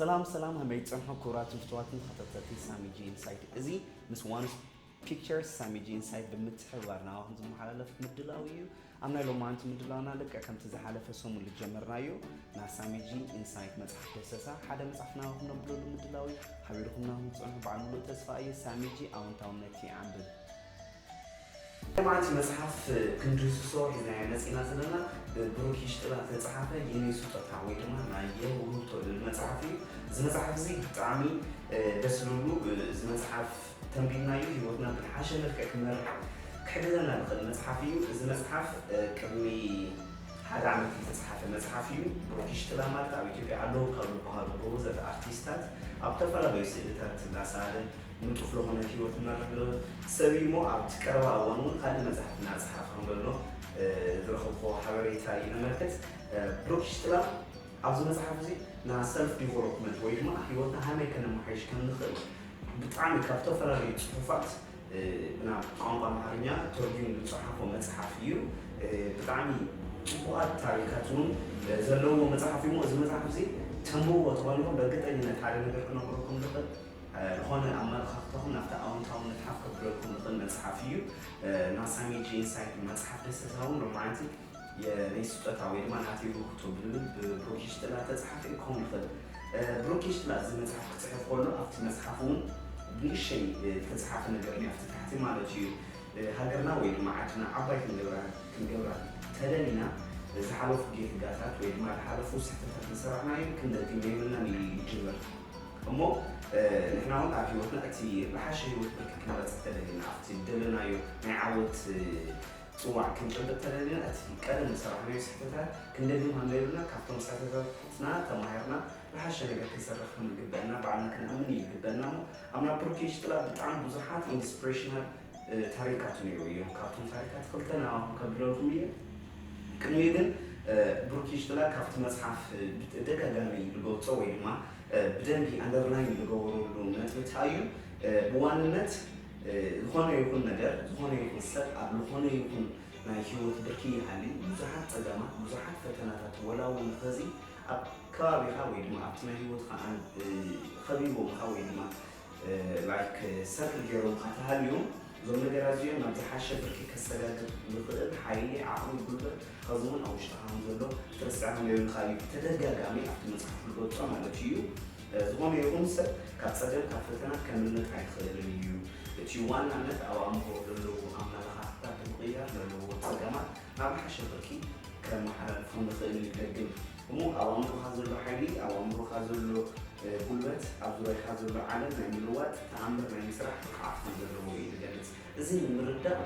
ሰላም ሰላም ሃመይ ፀንሖ ክቡራትን ፍትዋትን ተኸታተልቲ ሳሚጂ ኢንሳይት እዚ ምስ ዋንስ ፒክቸርስ ሳሚጂ ኢንሳይት ብምትሕብባር ናባኹም ዝመሓላለፍ ምድላው እዩ ኣብ ናይ ሎማንቲ ምድላውና ልክዕ ከምቲ ዝሓለፈ ሰሙን ዝጀመርናዮ ናይ ሳሚጂ ኢንሳይት መፅሓፍ ደሰሳ ሓደ መፅሓፍ ናባኹም ነብለሉ ምድላው እዩ ሓቢርኩም ናባኹም ዝፀንሑ በዓል ሙሉእ ተስፋ እየ ሳሚጂ ኣዎንታውነት ይዓንብብ ሎማዓንቲ መፅሓፍ ክንድህስሶ ሒዝናዮ መፂእና ዘለና ብብሩክ ይሽጥላ ዝተፅሓፈ የኔ ሱጦታ ወይ ድማ ናይ የው ውህብቶ ልብል መፅሓፍ እዩ እዚ መፅሓፍ እዙይ ብጣዕሚ ደስ ልብሉ እዚ መፅሓፍ ተንቢብናዮ ሂወትና ብዝሓሸ መልክዕ ክንመርሕ ክሕግዘና ዝኽእል መፅሓፍ እዩ እዚ መፅሓፍ ቅድሚ ሓደ ዓመት ዝተፅሓፈ መፅሓፍ እዩ ብሩክ ይሽጥላ ማለት ኣብ ኢትዮጵያ ኣለዉ ካብ ዝበሃሉ ጎበዘት ኣርቲስታት ኣብ ዝተፈላለዩ ስእልታት እንዳሰኣለ ንጡፍ ለኾነ ህይወት እናተመለወ ሰብ እዩ እሞ ኣብቲ ቀረባ እዋን እውን ካልእ መጻሕፍቲ እናጸሓፈ ከም ዘሎ ዝረኸብክዎ ሓበሬታ እዩ ነመልክት። ብሩክ ሽትላም ኣብዚ መጽሓፍ እዚ ን ሰልፍ ዲቨሎፕመንት ወይ ድማ ህይወትና ሃመይ ከነመሓይሽ ከም ንኽእል ብጣዕሚ ካብ ዝተፈላለዩ ጽሑፋት ናብ ቋንቋ ኣምሓርኛ ተርጉሙ ዝጸሓፎ መጽሓፍ እዩ። ብጣዕሚ ጽቡቓት ታሪካት እውን ዘለውዎ መጽሓፍ እዩ እሞ እዚ መጽሓፍ እዚ ተንብብዎ ተኾንኩም በርግጠኝነት ሓደ ነገር ክነግረኩም ዝኽእል ልኾነ ኣመለኻኽታኹም ናብቲ ኣወንታውነት ሓፍ ከብለልኩም ልኽእል መጽሓፍ እዩ። እና ሳሚ ጂ ኢንሳይት ንመጽሓፍ ደሰታውን ሮማንቲክ የኔ ስጦታ ወይ ድማ ናተይ ውህብቶ ብልብል ብብሩክ ይሽጥላ እተጸሓፈ እዩ ክኸውን ልኽእል። ብሩክ ይሽጥላ እዚ መጽሓፍ ክጽሕፍ ከሎ ኣብቲ መጽሓፍ እውን ብንእሸይ ልተጸሓፈ ነገር እኒኦ ኣብቲ ታሕቲ ማለት እዩ። ሃገርና ወይ ድማ ዓድና ዓባይ ክንገብራ ክንገብራ ተደሊና ዝሓለፉ ጌትጋታት ወይ ድማ ልሓለፉ ስሕተታት ልሰራሕናዮም ክንደግም የብልናን ኢሉ ይጅምር። እሞ ንሕና እውን ኣብ ህይወትና እቲ ዝሓሸ ህይወት ብርኪ ክንመርፅ እንተደሊና፣ ኣብቲ ዝደለናዮ ናይ ዓወት ፅዋዕ ክንጭብጥ እንተደሊና እቲ ቀደም ዝሰራሕናዮ ስሕተታት ክንደግም ኣንበብና ካብቶም ስሕተታትና ተማሂርና ዝሓሸ ነገር ክንሰርሕ ከምዝግበእና ባዕልና ክንኣምን እዩ ዝግበእና። እሞ ኣብ ናይ ብሩክ ይሽጥላ ብጣዕሚ ብዙሓት ኢንስፕሬሽናል ታሪካት ነይሩ እዮም። ካብቶም ታሪካት ክልተ ንዓኹም ከብለልኩም እየ። ቅድሚኡ ግን ብሩክ ይሽጥላ ካብቲ መፅሓፍ ብተደጋጋሚ ዝገልፆ ወይ ድማ ብደንቢ ኣንደርላይን ልገበረሉ ነጥቢ ታይ እዩ ብዋንነት ልኾነ ይኹን ነገር ዝኾነ ይኹን ሰብ ኣብ ልኾነ ይኹን ናይ ሂወት ብርኪ ይሃሊ ብዙሓት ፀገማት ብዙሓት ፈተናታት ወላ እውን ኸዚ ኣብ ከባቢኻ ወይ ድማ ኣብቲ ናይ ሂወትኻ ኸቢቦምኻ ወይ ድማ like ሰርክ ገይሮምካ ተሃልዮም እዞም ነገራት እዚኦም ናብ ዝሓሸ ብርኪ ከሰጋግር ዝኽእል ሓይሊ፣ ዓቕሚ፣ ጉልበት ሐዚ እውን ኣብ ውሽጥኻ ከም ዘሎ ክትርስዕ ከም ዘይብልካ እዩ ብተደጋጋሚ ኣብቲ መፅሓፍ ዝገልፆ ማለት እዩ። ዝኾነ ይኹን ሰብ ካብ ፀገም ካብ ፈተና ከምልጥ ኣይኽእልን እዩ። እቲ ዋናነት ኣብ ኣእምሮ ለለዉ ኣመለኻኽታ ብምቕያር ለለዉዎ ፀገማት ናብ ዝሓሸ ብርኪ ከመሓላልፎም ንኽእል እዩ ደግም። እሞ ኣብ ኣእምሮኻ ዘሎ ሓይሊ፣ ኣብ ኣእምሮኻ ዘሎ ጉልበት፣ ኣብ ዙርያኻ ዘሎ ዓለም ናይ ምልዋጥ፣ ተኣምር ናይ ምስራሕ ብቕዓት ከም ዘለዎ እዩ ዝገልጽ። እዚ ንምርዳእ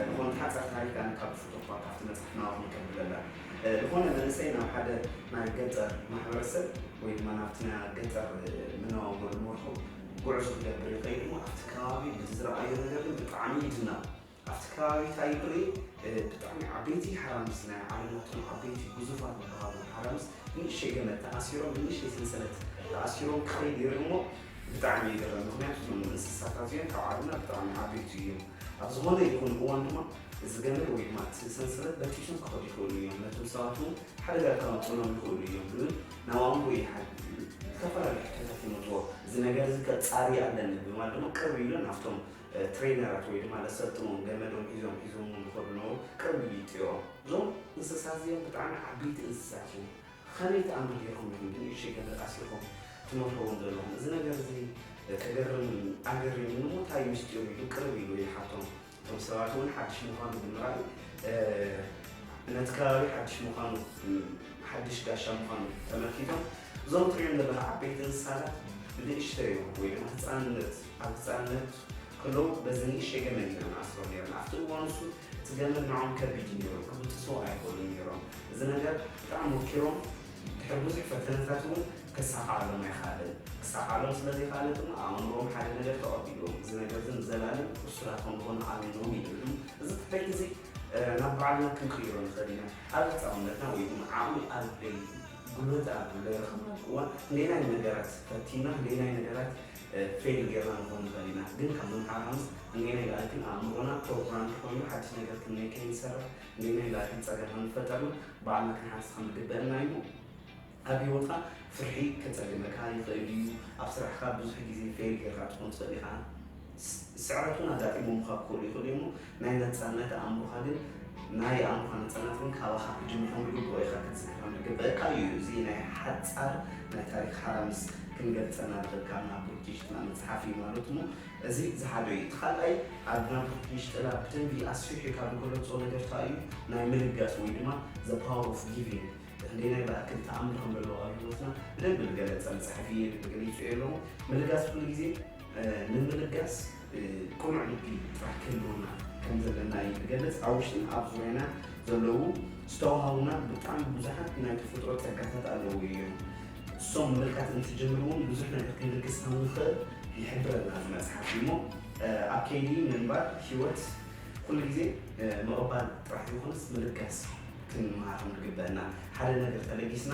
ዝኾነ ተሓጻር ታሪክ ኣነ ካብ ዝፍቶ እኳ ካብቲ መጽሓፍ ናባኹም ከብል እላ። ዝኾነ መንእሰይ ናብ ሓደ ናይ ገጠር ማሕበረሰብ ወይ ድማ ናብቲ ናይ ገጠር መነባብሮ ዝመርሖ ጉዕዞ ክገብር ይኸይድ እሞ ኣብቲ ከባቢ ብዝረኣዮ ነገር ግን ብጣዕሚ ይድነቕ። ኣብቲ ከባቢ ታይ ይእረዩ ብጣዕሚ ዓበይቲ ሓራምዝ ናይ ዓለም እቶም ዓበይቲ ግዙፋት ዝበሃሉ ሓራምዝ ንእሽተይ ገመድ ተኣሲሮም ብንእሽተይ ሰንሰለት ተኣሲሮም ክኸይድ ይርኢ እሞ ብጣዕሚ ይግረም ምኽንያቱ እዞም እንስሳታት እዚኦም ካብ ዓለምና ብጣዕሚ ዓበይቲ እዮም ኣብ ዝኾነ ይኹን እዋን ድማ እዚ ገመድ ወይ ድማ እቲ ሰንሰለት በጢሶም ክኸዱ ይኽእሉ እዮም ነቶም ሰባት እውን ሓደጋ ከመፅእሎም ይኽእሉ እዮም ዝብል ናብ ኣእምሮ ይሓድር ዝተፈላለዩ ሕቶታት ይመፅዎ እዚ ነገር እዚ ከፃሪ ኣለኒ ብምባል ድማ ቅርብ ኢሉ ናብቶም ትሬነራት ወይ ድማ ለሰልጥኖም ገመዶም ሒዞም ሒዞምዎም ዝኸዱ ዝነበሩ ቅርብ ኢሊጥ እዮም። እዞም እንስሳ እዚኦም ብጣዕሚ ዓበይቲ እንስሳት እዮም። ኸመይ ተኣምር ጌርኩም ኢኹም ብንእሽተይ ገመድ ኣሲርኩም ትመርሕዎም ዘለኹም? እዚ ነገር እዚ ከገርም ኣገሪሙኒ እሞ ታይ ምስጢሩ ኢሉ ቅርብ ኢሉ ይሓቶም። እቶም ሰባት እውን ሓድሽ ምዃኑ ብምርኣይ ነቲ ከባቢ ሓድሽ ምዃኑ ሓድሽ ጋሻ ምዃኑ ተመልኪቶም እዞም ትሪኦም ዘለኻ ዓበይቲ እንስሳታት ብንእሽተዮም ወይ ድማ ህፃንነት ኣብ ህጻንነቱ ከሎ በዚ ንእሽተይ ገመድ ኢና ንኣስሮ ኔርና። ኣብቲ እዋን ንሱ እቲ ገመድ ንዖኦም ከቢድ እዩ ኔሩ፣ ክብጥስዎ ኣይክእሉን ኔሮም። እዚ ነገር ብጣዕሚ ወኪሮም ድሕሪ ብዙሕ ፈተነታት እውን ከሳኽዓሎም ኣይኸኣለን። ክሳኽዓሎም ስለ ዘይኸኣለ ድማ ኣብ ኣእምርኦም ሓደ ነገር ተቐቢእዎም፣ እዚ ነገር እዚ ንዘላለም እሱራት ከም ክኾኑ ኣሚኖም ይድርሑ። እዚ ትሕተት እዚ ናብ ባዕልና ክንቅይሮ ንኽእል ኢና። ኣብ ህጻውነትና ወይ ድማ ዓቕሚ ኣብ ጉልበት ኣብ ለረኸብናሉ እዋን ንየናይ ነገራት ፈቲንና ንየናይ ነገራት ፌል ጌርና ንኾን ንኽእል ኢና ግን ካብ ምምሃራኑ እንዴናይ ላኣይ ግን ኣእምሮና ፕሮግራምድ ኮይኑ ሓድሽ ነገር ክንመይ ከይንሰርሕ እንዴናይ ላኣይ ግን ጸገም ከምፈጠርና ባዕልና ክንሓትት ከምግበእና እዩ እሞ ኣብ ሂወትካ ፍርሒ ከጸግመካ ይኽእል እዩ ኣብ ስራሕካ ብዙሕ ግዜ ፌል ጌርካ ትኾን ትኽእል ኢኻ ስዕረቱን ኣጋጢሞምካ ክኾኑ ይኽእሉ እዮም እሞ ናይ ነጻነት ኣእምሮኻ ግን ናይ ኣእምሮኻ ነጻነት ግን ካባኻ ክጅምርን ብግቡእ ኢኻ ክትዝክሮን ርግበእካ እዩ እዚ ናይ ሓጻር ናይ ታሪክ ሓራ ምስ ክንገልጸና ርክብካ ናብ ቡርኪንሽጥላ መጽሓፍ እዩ ማለት እሞ እዚ ዝሓደ እዩ እቲ ካልኣይ ኣብ ናብ ቡርኪንሽጥላ ብደንቢ ኣስፊሑ ካብ ዝገለጾ ነገር ታይ እዩ ናይ ምልጋስ ወይ ድማ the power of giving ክንደይናይ ብኣክል ተኣምር ከም ዘለዎ ኣብ ህይወትና ብደንቢ ዝገለጸ መጽሓፍ እዩ ገሊጹ እየ ኣለኹ ምልጋስ ኩሉ ግዜ ንምልጋስ ቅኑዕ ልቢ ጥራሕ ክህልወና ከም ዘለና እዩ ዝገልጽ። ኣብ ውሽጥና ኣብ ዙርያና ዘለዉ ዝተዋሃቡና ብጣዕሚ ብዙሓት ናይ ተፈጥሮ ጸጋታት ኣለዉ እዮም። እሶም ምልካት እንትጅምር እውን ብዙሕ ነገር ክንልግስ ከም ንኽእል ይሕብረና እዚ መጽሓፍ እሞ ኣብ ከይዲ ምንባር ህይወት ኩሉ ግዜ ምቕባል ጥራሕ ዘይኮነስ ምልጋስ ክንመሃር ከም ዝግበእና ሓደ ነገር ተለጊስና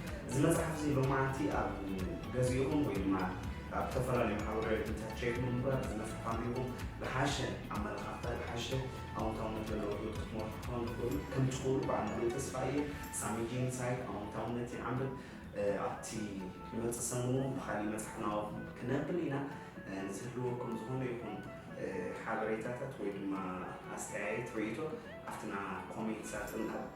እዚ መፅሓፍ እዚ ሎማዓንቲ ኣብ ገዚእኹም ወይ ድማ ኣብ ዝተፈላለዩ ማሕበራዊ ሚዲያታት ቼክ ብምግባር እዚ መፅሓፍ ኣንቢብኩም ዝሓሸ ኣመለኻኽታ ዝሓሸ ኣወንታውነት ዘለዎ ሂወት ክትመርሑ ክትኾኑ ትኽእሉ ከምትኽእሉ በዓል ሙሉእ ተስፋ እየ ሳሚ ጂን ሳይት ኣወንታውነት ይዓንብብ ኣብቲ ልመፅእ ሰሙን እውን ብኻሊእ መፅሓፍ ናባኹም ክነብል ኢና ንዝህልወኩም ዝኾነ ይኹን ሓበሬታታት ወይ ድማ ኣስተያየት ርእይቶ ኣብቲ ናይ ኮሜንት ሳጥን ኣብ